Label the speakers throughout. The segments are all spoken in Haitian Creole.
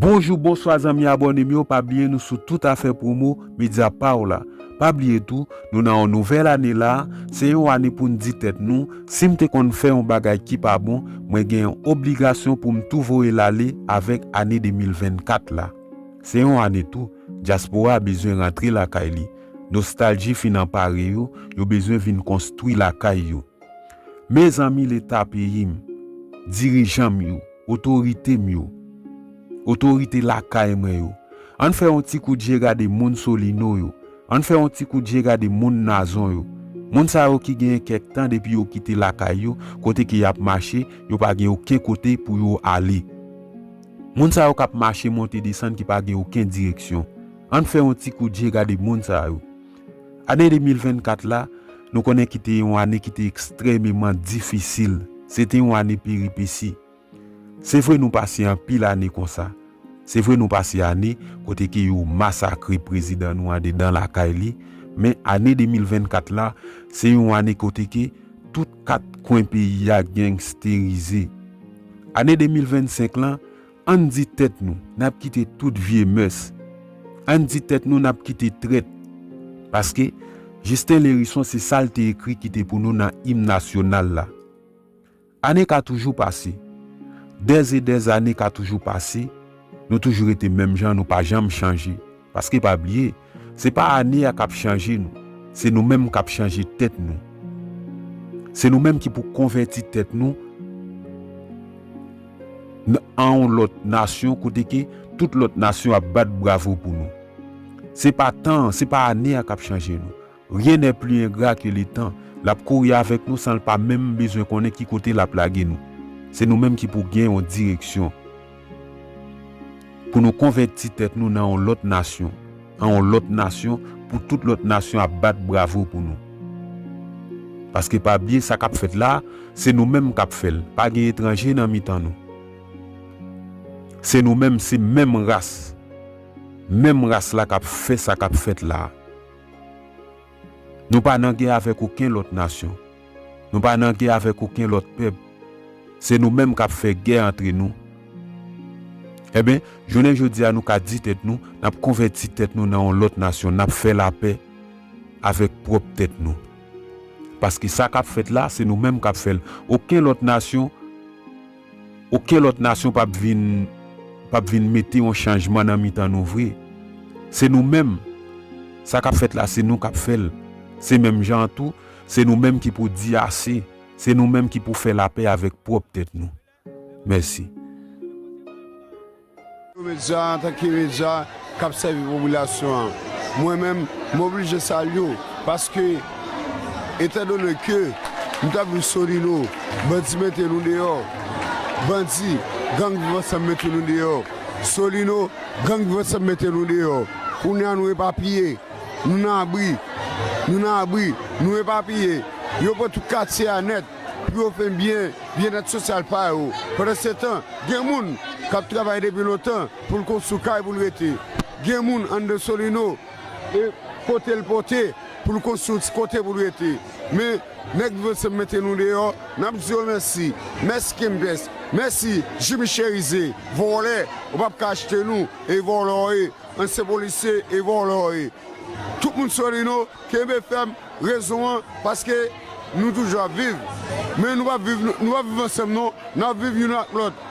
Speaker 1: Bonjou bonswa zanmi abòne m yo pa bliye nou sou tout afè promo medya paw la pa bliye tou nou nan yon nouvèl ane la se yon ane poun di tèt nou sim te konn fè yon bagay ki pa bon mwen gen yon obligasyon poum tou voyel ale avèk ane 2024 la se yon ane tou dyaspora bezwen rantre lakay li nostalji fin anpare yo yo bezwen vin konstwi lakay yo mezanmi leta peyim dirijanm yo. Otorite m yo. Otorite lakay mwen yo. An n fè yon ti kout je gade moun Solino yo. An n fè yon ti kout je gade moun Nazon yo. Moun sa yo ki genyen kèk tan depi yo kite lakay yo, kote ke y ap mache, yo pa gen oken kote pou yo ale. Moun sa yo k ap mache monte desann ki pa gen oken direksyon. An n fè yon ti kout je gade moun sa yo. Ane 2024 la, nou konnen ki te yon ane ki te ekstrèmeman difisil. Se te yon ane peripesi. Se vre nou pase anpil ane konsa. Se vre nou pase ane kote ke yo masakre prezidan nou andedan lakay li, men ane 2024 la, se yon ane kote ke tout kat kwen peyi a gangsterize. Ane 2025 lan, Ann di tèt nou n ap kite tout vye mès, ann di tèt nou n ap kite trèt. Paske, Jisten Lerison se sa l te ekri kite pou nou nan Im Nasyonal la. Ane ka toujou pase. Dèzedèzane ka toujou pase, nou toujou rete menm jan, nou pa janm chanje. Paske pa bliye, se pa ane a k ap chanje nou, se nou menm k ap chanje tèt nou. Se nou menm ki pou konvèti tèt nou n an yon lòt nasyon kote ke tout lòt nasyon ap bat bravo pou nou. Se pa tan an, se pa ane a k ap chanje nou. Rien n'est plus ingrat que le temps, lap kouri avèk nou sanl pa menm bezwen konnen ki kote lap lage nou. Se nou menm ki pou gen yon direksyon. Pou nou konvèti tèt nou nan yon lòt nasyon, an yon lòt nasyon pou tout lòt nasyon ap bat bravo pou nou. Paske pa bliye sa kap fèt la, se nou menm kap fèl, pa gen etranje nan mitan nou. Se nou menm, se menm ras, menm ras la kap fè sa kap fèt la. Nou pa nan gè avèk oken lòt nasyon. Nou pa nan gè avèk oken lòt pèp. Se nou menm k ap fè gè antre nou. Enben, jounen jodi a nou ka di tèt nou, n ap konvèti tèt nou nan yon lòt nasyon, n ap fè lapè avèk pwòp tèt nou. Paske sa k ap fèt la, se nou menm k ap fè l. Oken lòt nasyon. Oken lòt nasyon pap vin pap vin mete yon chanjman nan mitan nou vre. Se nou menm. Sa kap fèt la se nou kap fè l. Se menm jan an tou, se nou menm ki pou di ase. Se nou menm ki pou fè lapè avèk pwòp tèt nou. Mèsi.
Speaker 2: Pou medya an antan ke medya k ap sèvi popilasyon an, mwen menm m oblije salye w paske etandone ke m ta vin Solino, bandi mete nou deyò, bandi, gang Viv Ansanm mete nou deyò, Solino, gang Viv Ansanm mete nou deyò, kounye a nou epapiye, nou nan abri, nou nan abri, nou epapiye, yo pran tout katye a nèt. pou yo fè byen byennèt sosyal pa yo. Pandansetan, gen moun k ap travay depi lontan pou l konstwi kay pou l rete. Gen moun anndan Solino e pote l pote pou l konstwi yon ti kote pou l rete. Men, nèg Viv Ansanm mete nou deyò, n ap di yo mèsi. Mèsi Kempès, mèsi Jimmy Cherize, vòlè, ou pa p ka achte nou e vòlè w ye, ansyen polisye e vòlè w ye. Tout moun Solino Kenbe fèm rezon an paske nou toujou ap viv men nou pap viv nou pap viv ansanm non nap viv youn ak lòt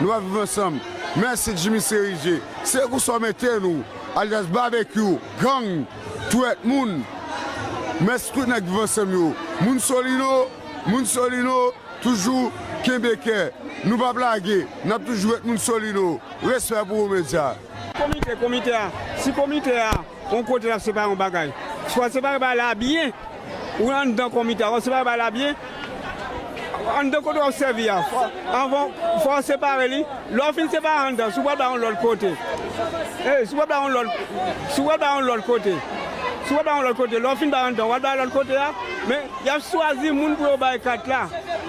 Speaker 2: nou pap viv ansanm mèsi Jimmy Cerizé se kou sa w mete nou alyas babekyou gang twèt moun mèsi tout nèg viv ansanm yo moun solino moun solino toujou kenbe kè nou pap lage nap toujou ret moun solino respè pou ou medya. Komite, komite a,
Speaker 3: si komite a yon kote l ap separe yon bagay, si w ap separe bagay la byen, ou anndan komite a, w ap separe bagay la byen, anndan kote w ap sèvi a, anvan, fò w separe li, lè w fin separe anndan, si w pral bay yon lòt kote, si w pral bay yon lòt, si w pral bay yon lòt kote, si w pral bay yon lòt kote, lè w fin bay anndan, w al bay lòt kote a, men, y ap chwazi moun pou yo bay kat la,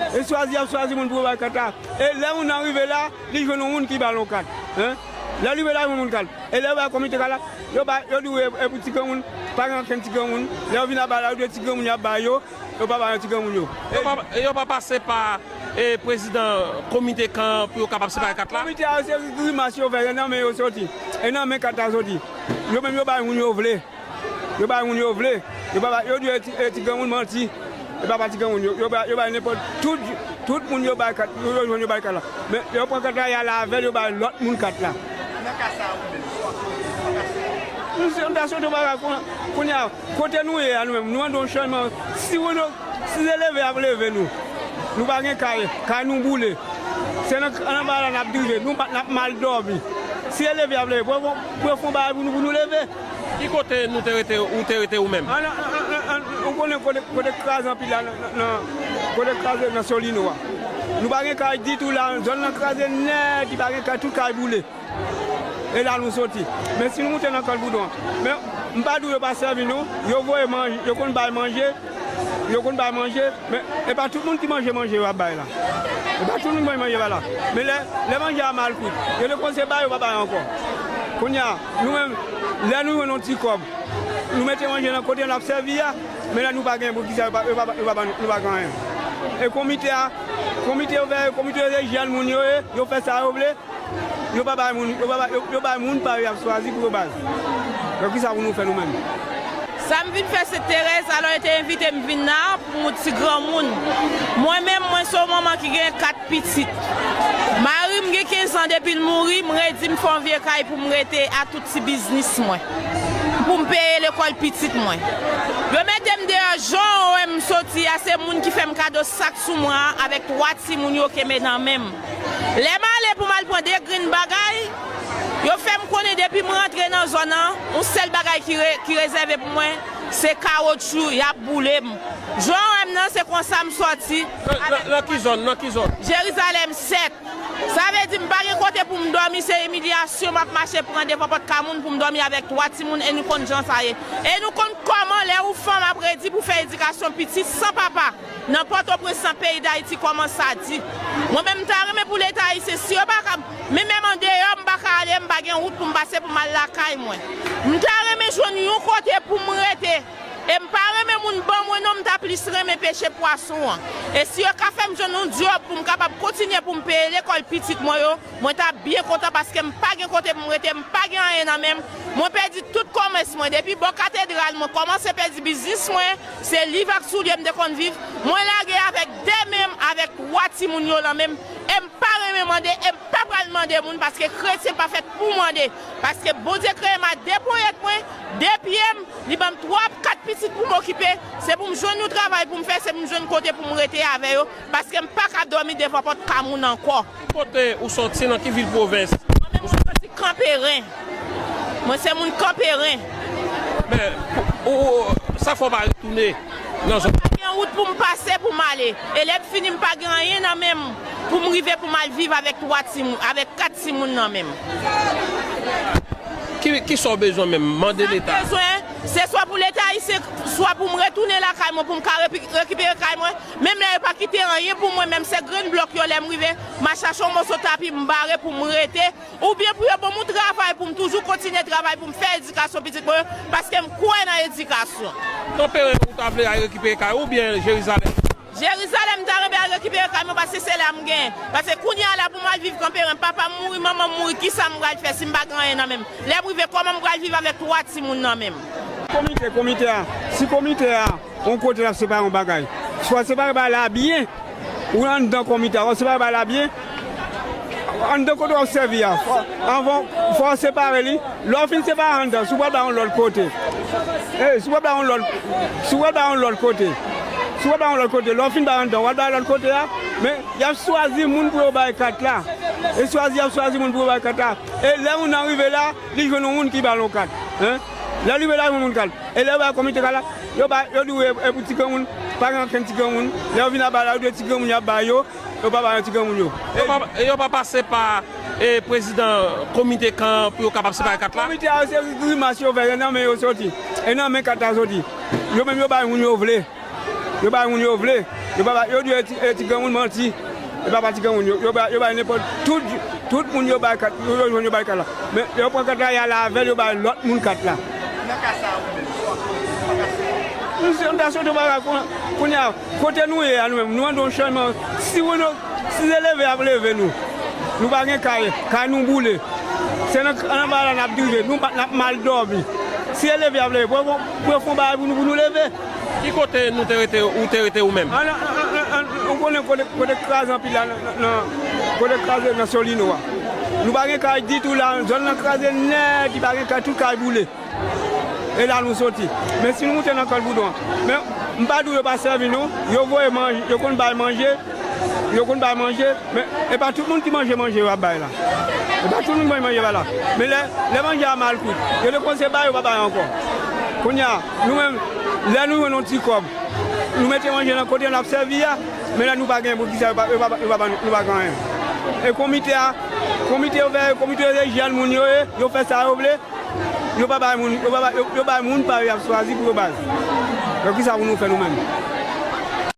Speaker 3: e chwazi y ap chwazi moun pou yo bay kat la, e lè moun nan rive la, li jwenn yon moun ki ba l yon kat. Lè li wè lavi moun kalm, e lè yo bay komite kay la, yo bay, yo di wi e pou ti granmoun, pa gen ankenn ti granmoun, lè yo vin ap bay la, yo di e ti granmoun y ap bay yo,
Speaker 4: yo pa
Speaker 3: bay yon ti granmoun yo. E yo
Speaker 4: pa
Speaker 3: pase pa
Speaker 4: prezidan komite kan an pou yo kapab separe kat la? Komite a yo se grimas
Speaker 3: yo fè, se nan men yo soti, e nan men kat la soti. Yo menm yo bay moun yo vle. Yo bay moun yo vle. Yo pa bay, yo di e ti granmoun manti. E pa pa ti granmoun. Yo bay, yo bay nenpòt, tout, tout moun yo bay kat, yo jwenn yo bay kat la. Men yo pran kat la, y'al avè'l, yo bay lòt moun kat la. Nan ka sa a ou menm, sa w'ap fè ou menm, ou ta soti kote? M ta soti ou pa ka kon, kounye a, kote nou ye a nou menm, nou antre yon chanjman. Si moun yo, si se leve y'ap leve nou. Nou pa gen kay, kay nou boule. Se nan, anba la n'ap dirije, nou pa, n'ap mal dòmi. Si se leve y'ap leve, pou yo fon, pou yo fon bagay pou nou, pou nou leve. Ki kote nou
Speaker 4: te rete ou te rete ou menm? Ou
Speaker 3: konnen kote kraze anpil la nan kote kraze nan solino a nou pa gen kay ditou la zòn nan kraze nèt li pa gen kay tout kay boule e la nou soti men si nou moute nan kant boudon men m pa di w yo pa sèvi nou yo voye manje yo konn bay manje yo konn bay manje men e pa tout moun ki manje manje yo ap bay la e pa tout moun ki manje manje yo ap bay la men lè manje a mal kwit yo te kòmanse bay yo pa bay ankò kounya. Nou menm, lè nou jwenn yon ti kòb, nou mete manje nan kote n ap sèvi a, men lè nou pa gen, poukisa yo pa ban nou pa gen anyen? E komite a, komite yo fè, komite yo se jèn moun yo ye, yo fè sa yo vle, yo pa bay moun, yo bay moun pa yo y ap chwazi pou yo bay. Donk kisa pou nou fè nou menm? Sa m
Speaker 5: vin fè se Terèz, alò yo te envite m vin la pou ti granmoun. Mwen menm, mwen se yon manman ki gen 4. pitit. Mari m gen 15 an depi l mouri, m redi m fè yon vye kay pou m rete a tout ti biznis mwen, pou m peye lekòl pitit mwen. Yo mete m deyò jan w wè m soti a se moun ki fè m kado sak sou mwen an avèk 3 timoun yo kenbe nan men m. Lè m ale pou m al pran 2 grenn bagay, yo fè m konnen depi m rantre nan zòn nan, yon sèl bagay ki rezève pou mwen se kawotchou, y ap boule m. Jan w wè m nan se konsa m sòti. Nan ki zòn?
Speaker 4: Nan ki zòn? Jerizalèm
Speaker 5: 7. Sa vle di m pa gen kote pou m dòmi, se imilyasyon m ap mache pran devan pòt kay moun pou m dòmi avèk 3 timoun e nou konn jan sa ye. E nou konn kòman lè ou fanm ap redi pou fè edikasyon pitit san papa nan Pòtoprens nan peyi Dayiti kòman sa di. Mwen menm m ta renmen pou leta ayisyen si yo pa ka men menm andeyò m pa ka ale m pa gen wout pou m pase pou m al lakay mwen. M ta renmen jwenn yon kote pou m rete. E m pa renmen moun ban mwen non m ta plis renmen peche pwason an. E si yo ka fè m jwenn yon dyòb pou m kapab kontinye pou m peye lekòl pitit mwen yo, mwen t ap byen kontan paske m pa gen kote pou m rete, m pa gen anyen nan men m, mwen pèdi tout kòmès mwen, depi bò katedral mwen kòmanse pèdi biznis mwen, se liv ak soulye m te konn viv, mwen lage avèk de men m avèk twa timoun yo lan men m, e m pa renmen mande e m pa pral mande moun paske kretyen pa fèt pou mande. Paske Bondye kreye m a de ponyèt mwen, de pye m, li ban m twa, kat pitit pou m okipe, se pou m jwenn yon travay pou m fè, se pou m jwenn kote pou m rete avè yo, paske m pa ka dòmi devan pòt pa moun ankò. Ki kote ou sòti,
Speaker 4: nan ki vil pwovens? Mwen menm mwen sòti
Speaker 5: Kanperen. Mwen se moun Kanperen. Men,
Speaker 4: ou, sa fè w pa retounen nan zòn? Mwen pa gen wout pou m pase
Speaker 5: pou m ale. Elèvfini m pa gen anyen nan men m. Poum rive poum al viv avèk 3 timoun avèk 4 timoun nan menm.
Speaker 4: Kisa w bezwen menm? Mande leta. Sa m bezwen, se swa pou
Speaker 5: leta ayisyen, swa poum retounen lakay mwen poum ka rekipere kay mwen, menm la yo pa kite anyen pou mwen menm se grenn blòk yo lèm rive ma chache yon moso tapi m bare poum rete oubyen pou yo banm yon travay poum toujou kontinye travay poum fè edikasyon pitit mwen yo paskem kwè nan edikasyon. Kanperen ou
Speaker 4: ta vle al rekipere kay ou oubyen Jerizalèm? Jerizalèm ta
Speaker 5: renmen al rekipere kay mwen paske se la m gen. Paske kounye a la pou m al viv kanperen, papa m mouri, manman m mouri, kisa m pral fè si m pa gen anyen nan men m? Lè m rive, kòman m pral viv avèk twa timoun nan men m? Komite, komite
Speaker 3: a, si komite a yon kote l ap separe yon bagay, swa l separe bagay la byen, ou anndan komite a, wap separe bagay la byen, Anndan kote wap sèvi a, anvan fò w separe li, lè w fin separe anndan si w pral bay yon lòt kote, si w pral bay yon lòt, si w pral bay yon lòt kote, si w pral bay yon lòt kote, lè w fin bay anndan an wal bay lòt kote a, men yap chwazi moun pou yo bay kat la, e chwazi yap chwazi moun pou yo bay kat la, e lè moun nan rive la li jwenn yon moun ki bal yon kat, lèl rive la li jwenn yon moun kal, e lè yo bay komite kal la, yo bay, yo di w e pou ti granmoun, pa gen ankenn ti granmoun, lè yo vin aba la yo di w e ti granmoun yap bay yo, Yo pa bay an ti granmoun yo. E yo pa
Speaker 4: pase pa prezidan komite kan an pou yo kapab separe kat la? Komite a yo se grimas
Speaker 3: yo fè, se nan men yo soti. E nan men kat la soti. Yo menm yo bay moun yo vle. Yo bay moun yo vle. Yo pa bay, yo di e ti granmoun manti. E pa pa ti granmoun yo. Yo bay, yo bay nenpòt, tout, tout moun yo bay kat, yo jwenn yo bay kat la. Men yo pran kat la y al avè l yo bay lòt moun kat la. Nan ka sa a ou menm, sa w ap fè? M ta soti, m ta soti, m pa ka kounye a. Kote nou ye a nou menm nou andan yon channman si wè nou si se leve yap leve nou nou pa gen kay kay nou boule se nan anba la nap drive nou pa nap mal dòmi si se leve yap leve pou yo pou yo fon bagay pou nou pou nou leve. Ki kote nou
Speaker 4: te rete ou te rete ou menm? An an ou
Speaker 3: konnen kote kote kraze anpil la nan kote kraze nan solino a nou pa gen kay ditou la zòn nan kraze nèt li pa gen kay tout kay boule. E la nou soti. Men si nou moute nan kòl boudon. Men m pa di w yo pa sèvi nou. Yo voye manje, yo konn bay manje. Yo konn bay manje. Men e pa tout moun ki manje manje yo ap bay la. E pa tout moun manje manje yo ap bay la. Men lè manje a mal kwit. Yo te kòmanse bay, yo pa bay ankò. Kounye a, nou menm, lè nou jwenn yon ti kòb, nou mete manje nan kote n ap sèvi a. Men lè nou pa gen pou ki sa yo pa yo pa ban nou pa gen anyen. E komite a, komite yo fè, komite yo se jèn moun yo ye. Yo fè sa yo vle. Yo pa bay moun, yo bay moun pa yo yap chwazi pou yo bay. Donk kisa pou nou fè nou menm?